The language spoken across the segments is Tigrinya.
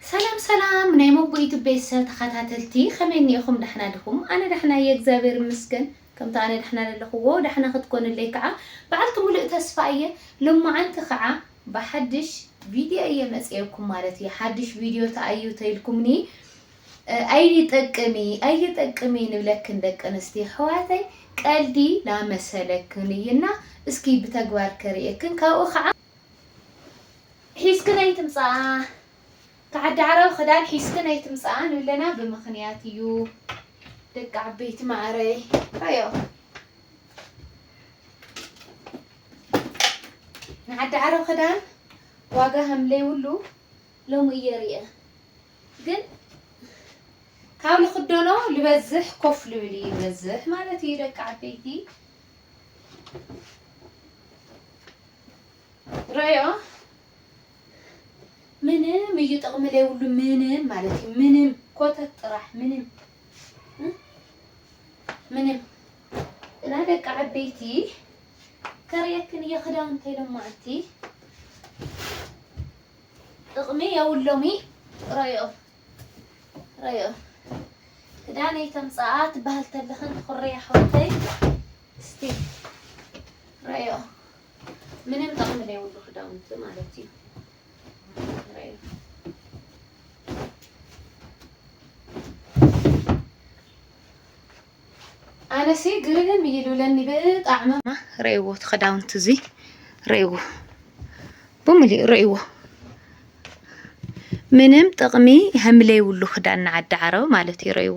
ሰላም ሰላም ናይ ሞጎ ዩቱብ ቤተሰብ ተኻታተልቲ ከመይ እኒኤኹም ዳሕና ዲኹም ኣነ ዳሕና እየ እግዚኣብሔር ይመስገን ከምቲ ኣነ ዳሕና ለለኹዎ ዳሕና ክትኮኑለይ ከዓ በዓልቲ ሙሉእ ተስፋ እየ ሎማዓንቲ ከዓ ብሓድሽ ቪድዮ እየ መፅኤኩም ማለት እየ ሓድሽ ቪድዮ ተኣዩ ተይልኩምኒ ኣይጠቅሚ ኣይጠቅሚ ንብለክን ደቂ ኣንስትዮ ኣሕዋተይ ቀልዲ ላመሰለክን እዩና እስኪ ብተግባር ከርእየክን ካብኡ ከዓ ሒዝክን ኣይትምጻኣ ከዓዲ ዓረብ ክዳን ሒዝክን ኣይትምጻኣ ንብለና ብምኽንያት እዩ ደቂ ዓበይቲ ማዕረይ ኣዮ ንዓዲ ዓረብ ክዳን ዋጋ ከምለይብሉ ሎሚ እየ ርእየ ግን ካብ ልኽደኖ ልበዝሕ ኮፍ ልብል እዩ ልበዝሕ ማለት እዩ ደቂ ዓበይቲ ረዮ ምንም እዩ ጥቕሚ ዘይብሉ ምንም ማለት እዩ ምንም ኮተት ጥራሕ ምንም ምንም እና ደቂ ዓበይቲ ከርእየክን እየ ክዳውንቲ ኢሎም ማዕቲ ጥቕሚ የብሎሚ ረዮ ረዮ ክዳነይ ተምፅኣ ትበሃል ተለኽን ትኹርያ ሓወተይ እስቲ ረዮ ምንም ጠቅሚ ዘይብሉ ክዳውንቲ ማለት እዩ ረዮ ኣነሲ ግርም እዩ ልብለኒ ብጣዕሚ ረእዎ እቲ ክዳውንቲ እዚ ረእዎ ብምልኡ ረእዎ ምንም ጥቅሚ ከምለይብሉ ክዳን ንዓዲ ዓረብ ማለት እዩ ረእዎ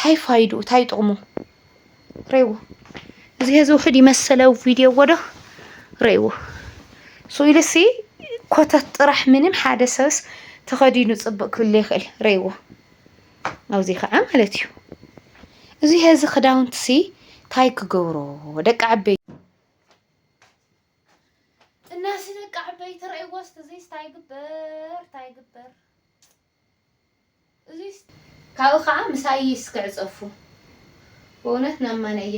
ታይ ፋይዱ ታይ ጥቕሙ ረይዎ እዚ ህዚ ውሕድ ይመሰለ ቪድዮ ወዶ ረይዎ ስኢሉሲ ኮተት ጥራሕ ምንም ሓደ ሰብስ ተኸዲኑ ፅብቅ ክብል ይኽእል ረይዎ ኣብዚ ከዓ ማለት እዩ እዚ ህዚ ክዳውንትሲ ታይ ክገብሮ ደቂ ዓበይ እናሲ ደቂ ዓበይቲ ረይዎ ስትዚ ታይ ግበር ታይ ግበር ካብኡ ካዓ ምሳይ ይስክዕ ፀፉ በእውነት ናማነየ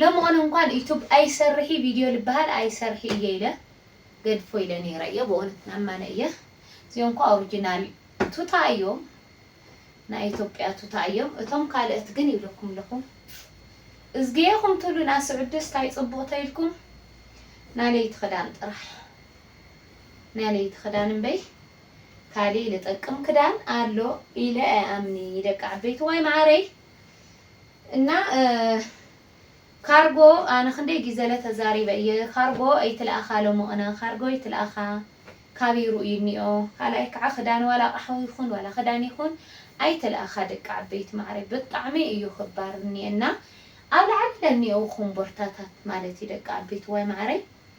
ለመሆነ እንኳን ዩቱብ ኣይሰርሒ ቪድዮ ልበሃል ኣይሰርሒ እየ ኢለ ገድፎ ኢለ ነይረ እየ በእውነት ናማነየ እዚኦምኳ ኦርጅናል ቱታ እዮም ናይ ኢትዮጵያ ቱታ እዮም እቶም ካልእት ግን ይብለኩም ኣለኹ እዝጌኹም ትብሉ ናስዑድስ ታይ ፅቡቅ ተይልኩም ናለይቲ ክዳን ጥራሕ። ናይ ለይቲ ክዳን እምበይ ካሊእ ልጠቅም ክዳን ኣሎ ኢለ ኣይኣምኒ ደቂ ዓበይትዋይ መዓረይ እና ካርጎ ኣነ ክንደይ ጊዘለ ተዛሪበ እየ ካርጎ ኣይትልኣኻ ሎሞቅነ ካርጎ ኣይትልኣኻ ካብይ ሩኡይ እኒኦ ካልኣይ ካዓ ክዳን ዋላ ኣቅሓ ይኹን ዋላ ክዳን ይኹን ኣይትልኣኻ ደቂ ዓበይቲ መዓረይ ብጣዕሚ እዩ ክባር እኒኤና ኣብ ላዕሊ ለኒኦው ኮምቦርታታት ማለት እዩ ደቂ ዓበይትዋይ መዓረይ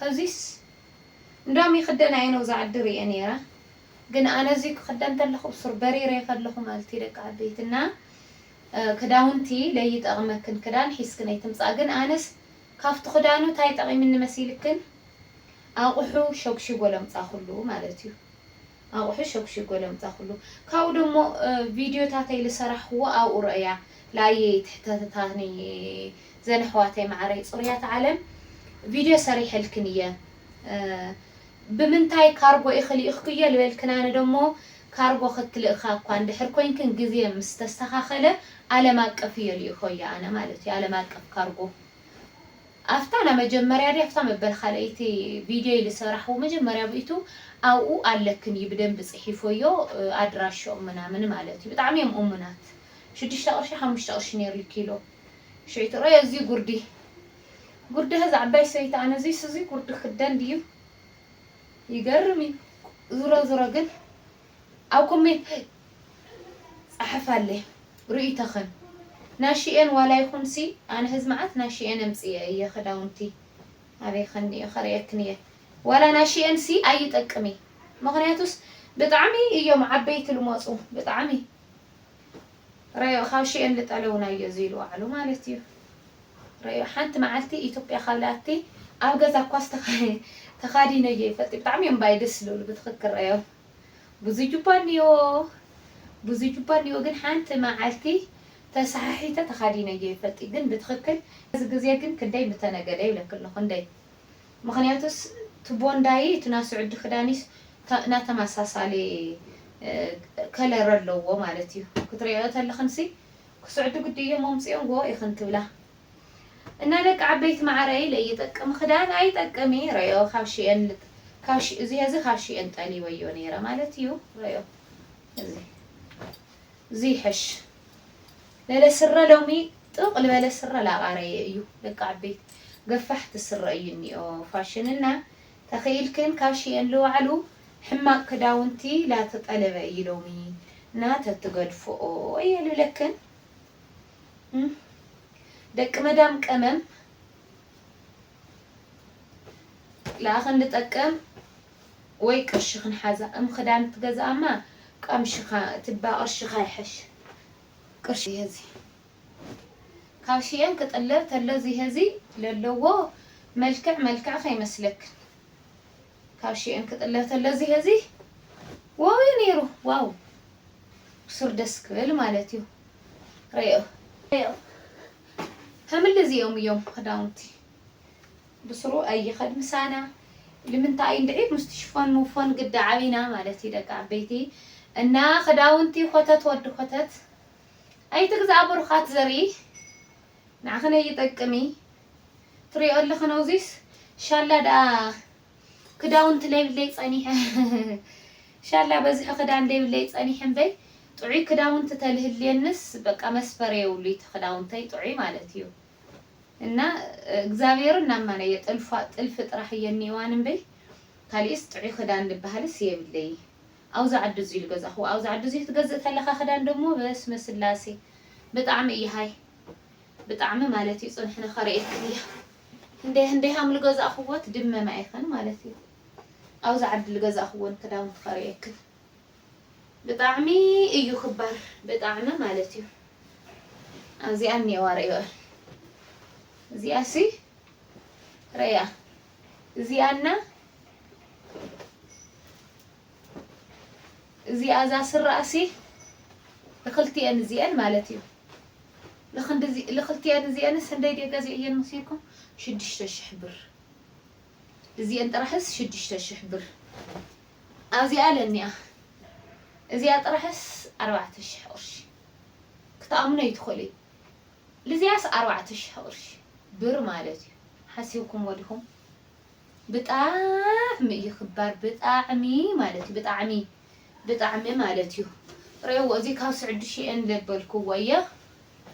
ሀዚስ እንዳም ይክደን ኣየ ነው ዛዓዲ ሪኤ ነይረ ግን ኣነ እዙይ ክክደን ተለኩ ብሱር በሪሬ ከለኩ ማልትዩ ደቂ ዓበይቲ እና ክዳውንቲ ለይጠቅመክን ክዳን ሒዝክን ኣይትምፃ ግን ኣነስ ካፍቱ ክዳኑ ታይ ጠቂምኒ መሲልክን ኣቁሑ ሸጉሺጎ ለምፃኩሉ ማለት እዩ ኣቁሑ ሸጉሽግ ጎለምታ ኩሉ ካብኡ ደሞ ቪድዮታተይ ልሰራሕክዎ ኣብኡ ረእያ ላይክ ትሕተትታኒ ዘን ኣሕዋተይ ማዓረይ ፅሩያት ዓለም ቪድዮ ሰሪሐልክን እየ ብምንታይ ካርጎ ኢኪ ልኢክክዮ ልበልክን ኣነ ደሞ ካርጎ ክትልእካ እኳ እንድሕር ኮይንክን ግዜ ምስ ተስተካከለ ኣለም ኣቀፍ እየ ልኢኮዮ ኣነ ማለት እዩ ኣለም ኣቀፍ ካርጎ። ኣፍታ ናመጀመርያ ድያ ኣፍታ መበል ካልኣይቲ ቪድዮይ ልሰራሕዎ መጀመርያ ብእቱ ኣብኡ ኣለክን እዩ ብደንቢ ጺሒፎዮ ኣድራሽኦም ምናምን ማለት እዩ ብጣዕሚ እዮም እሙናት ሽዱሽተ ቅርሺ ሓሙሽተ ቅርሺ ነይሩ እዩ ኪሎ ሽዑ ትርእዮ እዙይ ጉርዲ ጉርዲ እዛ ዓባይ ሰበይቲ ኣነ እዙይስ እዙይ ጉርዲ ክደን ድዩ ይገርም እዩ ዝሮ ዝሮ ግን ኣብ ኮሜት ጸሓፋለይ ርእይቶኽን። ናሺኤን ዋላ ይኹን ሲ ኣነ ሕዚ መዓት ናሺኤን ኣምጺኤ እየ ኽዳውንቲ ኣበይ ኸኒኦ ኸርእየክን እየ ዋላ ናሺኤን ሲ ኣይጠቅም እዪ ምኽንያቱስ ብጣዕሚ እዮም ዓበይቲ ልሞጹ ብጣዕሚ ረዮ ኻብ ሺኤን ልጠለውን ኣዮ ዝይሉ ዋዕሉ ማለት እዩ ረዮ ሓንቲ መዓልቲ ኢትዮጵያ ኻብ ልኣቲ ኣብ ገዛ ኳስ ተኻዲነዮ ይፈልጥ ብጣዕሚ እዮም ባይ ደስ ልብሉ ብትኽክል ረዮ ብዙጅባ ኣኒኦ ብዙጅባ ኣኒኦ ግን ሓንቲ ማዓልቲ ተሳሓሒተ ተካዲነዮ ይፈልጥዩ ግን ብትክክል እዚ ግዜ ግን ክንደይ ምተነገደ ይብለኪ ኣለኩ እንደይ ምክንያቱስ እቲ ቦንዳይ እቲ ናይ ስዑዲ ክዳንይስ ናይ ተማሳሳሊ ከለር ኣለዎ ማለትዩ ክትሪኦዮ ተለክንሲ ክስዑዲ ግዲ እዮም ኣምፂኦምዎ ኢክን ትብላ እና ደቂ ዓበይቲ ማዓረይ ለይ ይጠቅም ኽዳን ኣይጠቅም እዪ ረኦ ካብ ሽኤን ካብ ሽ እዚ ሀዚ ካብ ሽኤን ጠሊበዮ ነይረ ማለት እዩ ረኦ እዚ እዚ ይሐሽ ለለ ስረ ሎሚ ጥቅ ልበለ ስረ ላቃረየ እዩ ደቂ ዓበይቲ ገፋሕቲ ስረ እዩ እኒኦ ፋሽን እና ተኽኢልክን ካብ ሽኤን ልዋዕሉ ሕማቅ ክዳውንቲ ላተጠለበ እዪ ሎሚ እና ተትገድፎኦ እየ ልብለክን። ደቂ መዳም ቀመም ለኣኽን ልጠቅም ወይ ቅርሺ ክንሓዛ እም ክዳን ትገዝኣማ ቀምሽኻ ትባ ቅርሽኻ ይሐሽ ቅርሺ ሀዚ ካብ ሽየም ክጥለብ ተሎ እዚ ሀዚ ለለዎ መልክዕ መልክዕ ከይመስለክን ካብ ሽየን ክጥለብ ተሎ እዚ ሀዚ ዋው እዩ ነይሩ ዋው ብሱር ደስ ክብል ማለት እዩ ረኦ ረኦ ከምል እዚኦም እዮም ክዳውንቲ ብስሩ ኣይኸድ ምሳና ልምንታይ እንድዒ ምስቲ ሽፎን ምፎን ግዲ ዓብና ማለት እዩ ደቂ ዓበይቲ እና ክዳውንቲ ኮተት ወዲ ኮተት ኣይትግዛእ ብሩኻት ዘርኢ ንዓኺ ነይ ይጠቅም እዪ ትሪኦ ኣለኺ ነውዚስ ሻላ ደኣ ክዳውንቲ ለይብለይ ጸኒሐ ሻላ በዝሒ ክዳን ለይብለይ ጸኒሐ እምበይ ጥዑይ ክዳውንቲ ተልህልየንስ በቃ መስፈርያ የብሉ እቲ ክዳውንተይ ጥዑይ ማለት እዩ እና እግዚኣብሔር እናማነየ ጥልፋ ጥልፊ ጥራሕ እየ እኒኦዋን እምበይ ካሊእስ ጥዑይ ክዳን ልበሃልስ የብለይ። ኣውዚ ዓዲ እዚ ኢሉ ገዛክዎ ኣውዚ ዓዲ እዚ ክትገዝእ ተለካ ክዳን ደሞ በስመ ስላሴ ብጣዕሚ እየ ሃይ ብጣዕሚ ማለት እዩ ፅንሕነ ከርእየክን እየ ህንደይ ህንደይ ሃም ልገዛእክዎ ትድመም ኣይክን ማለት እዩ ኣውዚ ዓዲ ልገዛእክዎን ክዳውንቲ ከርእየክን ብጣዕሚ እዩ ክባር ብጣዕሚ ማለት እዩ ኣዚኣ እኒኤዋ ርእዮእል እዚኣ ሲ ረያ እዚኣ እና እዚኣ እዛ ስረኣሲ ልክልቲኤን እዚኤን ማለት እዩ ልክልቲኤን እዚኤንስ ክንደይ ድየ ገዚዐየን መሲልኩም ሽዱሽተ ሽሕ ብር እዚኤን ጥራሕስ ሽዱሽተ ሽሕ ብር ኣብዚኣ ለኒኣ እዚኣ ጥራሕስ ኣርባዕተ ሽሕ ቅርሺ ክትኣምኖ ይትኽእሉ እዩ ልዝያስ ኣርባዕተ ሽሕ ቅርሺ ብር ማለት እዩ ሓሲብኩሞ ዲኹም ብጣዕሚ እዩ ክባር ብጣዕሚ ማለት እዩ ብጣዕሚ ብጣዕሚ ማለት እዩ ሬዎ እዚ ካብ ስዕዲ ሽኤን ለበልኩዎ እየ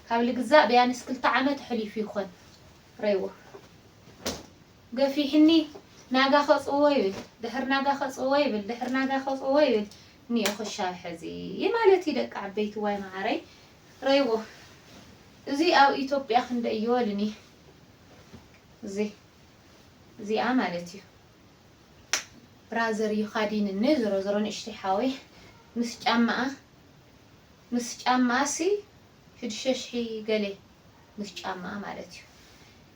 ካብ ልግዛእ ብያንስ ክልተ ዓመት ኣሕሊፉ ይኾን ሬዎ ገፊሕኒ ናጋ ከጽዎ ይብል ድሕር ናጋ ከጽዎ ይብል ድሕር ናጋ ከጽዎ ይብል ኒኦ ክሻብ ሕዚ ማለት እዩ ደቂ ዓበይቲ ዋይ መዓረይ ረይዎ እዚ ኣብ ኢትዮጵያ ክንደይ ይወልን እየ እዚ እዚኣ ማለት እዩ ብራዘር እዩ ካዲንኒ ዝሮ ዝሮ ንእሽተይ ሓወይ ምስ ጫማኣ ምስ ጫማኣ ሲ ሽዱሽተ ሽሒ ገሌ ምስ ጫማኣ ማለት እዩ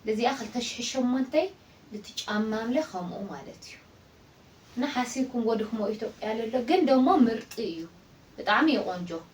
ለዚኣ ክልተ ሽሒ ሸሞንተይ ልቲ ጫማምለ ከምኡ ማለት እዩ እና ሓሲብኩም ጎድኽሞ ኢትዮጵያ ለሎ ግን ደሞ ምርጢ እዩ ብጣዕሚ እዩ ቆንጆ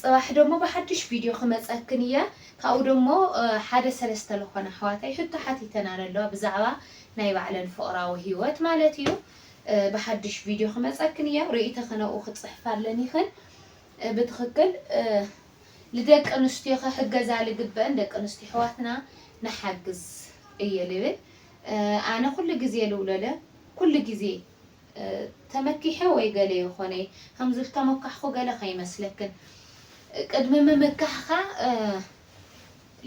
ጽባሕ ደሞ ብሓዱሽ ቪድዮ ክመጸክን እየ ካብኡ ደሞ ሓደ ሰለስተ ልኾና ኣሕዋተይ ሕቶ ሓቲተን ኣለዋ ብዛዕባ ናይ ባዕለን ፍቅራዊ ሂወት ማለት እዩ ብሓዱሽ ቪድዮ ክመጸክን እየ ርእይተኺ ነብኡ ክጽሕፍ ኣለኒክን ብትኽክል ልደቂ ኣንስትዮ ክሕገዛ ልግበእን ደቂ ኣንስትዮ ኣሕዋትና ንሓግዝ እየ ልብል ኣነ ኩሉ ግዜ ልብሎ ለ ኩሉ ግዜ ተመኪሐ ወይ ገለ ይኾነይ ከም ዝተሞካሕኹ ገለ ከይመስለክን ቅድሚ ምምካሕኻ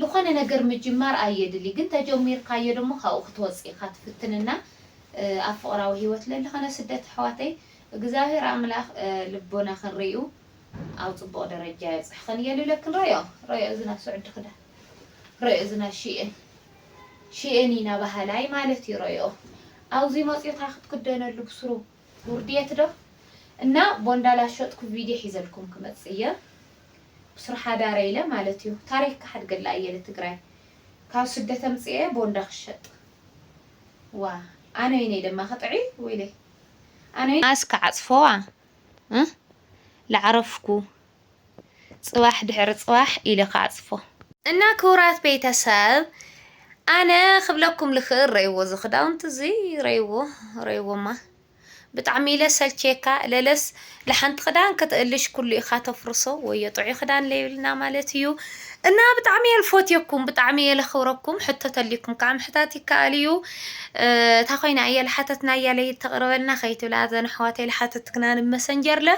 ልኾነ ነገር ምጅማር ኣየድሊ ግን ተጀሚርካዮ ደሞ ካብኡ ክትወጽእ ኢኻ ትፍትን እና ኣብ ፍቕራዊ ሂወት ለልኽነ ስደት ኣሕዋተይ እግዝኣብሄር ኣምላኽ ልቦናኽን ሪኡ ኣብ ጽቡቕ ደረጃ የብጽሕኽን እየ ልብለክን ሮዮ ሮዮ እዝና ስዑዲ ክዳ ሮዮ እዝና ሽእን ሽእኒ ናባሃላይ ማለት እዩ ረኦ ኣውዙይ መፅዩካ ክትክደነሉ ብስሩ ውርድየት ዶ እና ቦንዳ ላሸጥኩ ቪድዮ ሒዘልኩም ክመፅእ እየ ብስሩ ሓዳረይ ኢለ ማለት እዩ ታሪክ ክሓድገላ እየ ልትግራይ ካብ ስደት ኣምፅኤ ቦንዳ ክሸጥ ዋ ኣነይነይ ደማ ክጥዒ ወይለይ ኣነይ ኣስ ክዓፅፈዋ እ ላዕረፍኩ ጽባሕ ድሕሪ ጽባሕ ኢለ ክዓጽፎ። እና ክቡራት ቤተሰብ ኣነ ክብለኩም ልክእል ረይዎ እዚ ክዳውንቲ እዚ ረይዎ ረይዎማ ብጣዕሚ ኢለ ሰልችየካ ለለስ ልሓንቲ ክዳን ክትእልሽ ኩሉ ኢካ ተፍርሶ ወዮ ጥዑይ ክዳን ለይብልና ማለት እዩ እና ብጣዕሚ እየ ልፎትየኩም ብጣዕሚ እየ ለክብረኩም ሕቶ ተልይኩም ከዓ ምሕታት ይከኣል እዩ እታ ኮይና እየ ልሓተትና እያ ለይተቅርበልና ከይትብላ ዘን ኣሕዋተይ ልሓተትክና ንመሰንጀር ለ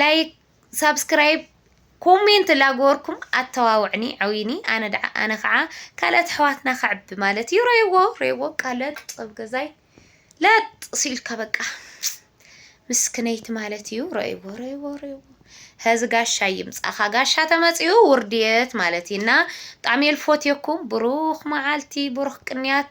ላይክ ሳብስክራይብ ኮሜንት ላገበርኩም ኣተባብዕኒ ዕውይኒ ኣነ ደዓ ኣነ ከዓ ካልኦት ኣሕዋትና ከዕቢ ማለት እዩ ረይዎ ረይዎ ቃለት ኣብ ገዛይ ለጥ ሲልካ በቃ ምስክነይቲ ማለት እዩ ረይዎ ረይዎ ረይዎ ሀዚ ጋሻ ይምፃኻ ጋሻ ተመፅኡ ውርድት ማለት እዩ እና ብጣዕሚ የልፎትየኩም ብሩኽ መዓልቲ ብሩኽ ቅንያት